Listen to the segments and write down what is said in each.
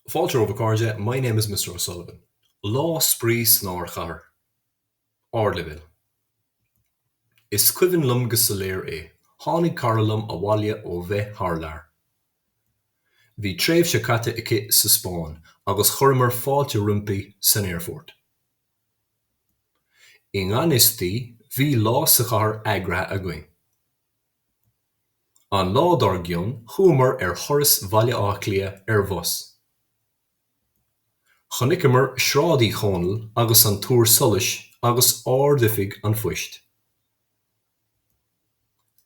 Fáilte romhaibh, a chairde, my name is Mr. O'Sullivan. Lá spraoi san ardchathair. Ardleibhéal. Is cuimhin liom go soiléir é, tháinig cara liom abhaile ó bheith thar lear. Bhí tréimhse caite aici sa Spáinn agus chuireamar fáilte roimpi san aerfort. I ngan fhios di, bhí lá sa chathair eagraithe againn. An lá dár gcionn chuamar ar thuras Bhaile Átha Cliath ar bhus. Chonaiceamar Sráid Uí Chonaill agus an Túr Solais agus Ard-Oifig an Phoist.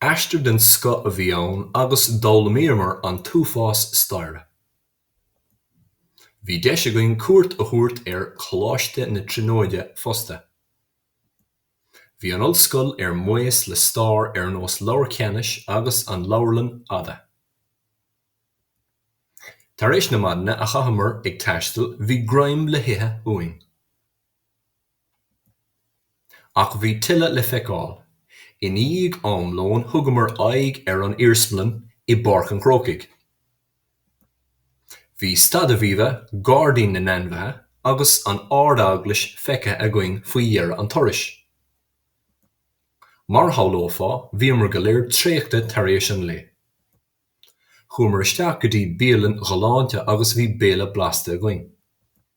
Aistear den scoth a bhí ann agus d'fhoghlaimíomar an t-uafás staire. Bhí deis againn cuairt a thabhairt ar Choláiste na Tríonóide fosta. Bhí an ollscoil ar maos le stair ar nós Leabhar Cheanannais agus an Leabharlann Fhada. Tar éis na maidine a chaitheamar ag taisteal, bhí greim le hithe uainn. Ach bhí tuilleadh le feiceáil. I ndiaidh am lóin thugamar aghaidh ar an iarsmalann i bPáirc an Chrócaigh. Bhí Staid Aviva, Gairdín na nAinmhithe agus an Ard-Eaglais feicthe againn faoi dheireadh an turais. Mar a shamhlófá, bhíomar go léir traochta tar éis an lae. Chuamar isteach go dtí bialann ghalánta agus bhí béile blasta againn.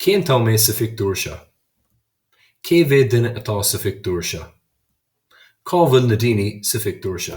Cén t-am é sa phictiúr seo? Cé mhéad duine atá sa phictiúr seo? Cá bhfuil na daoine sa phictiúr seo?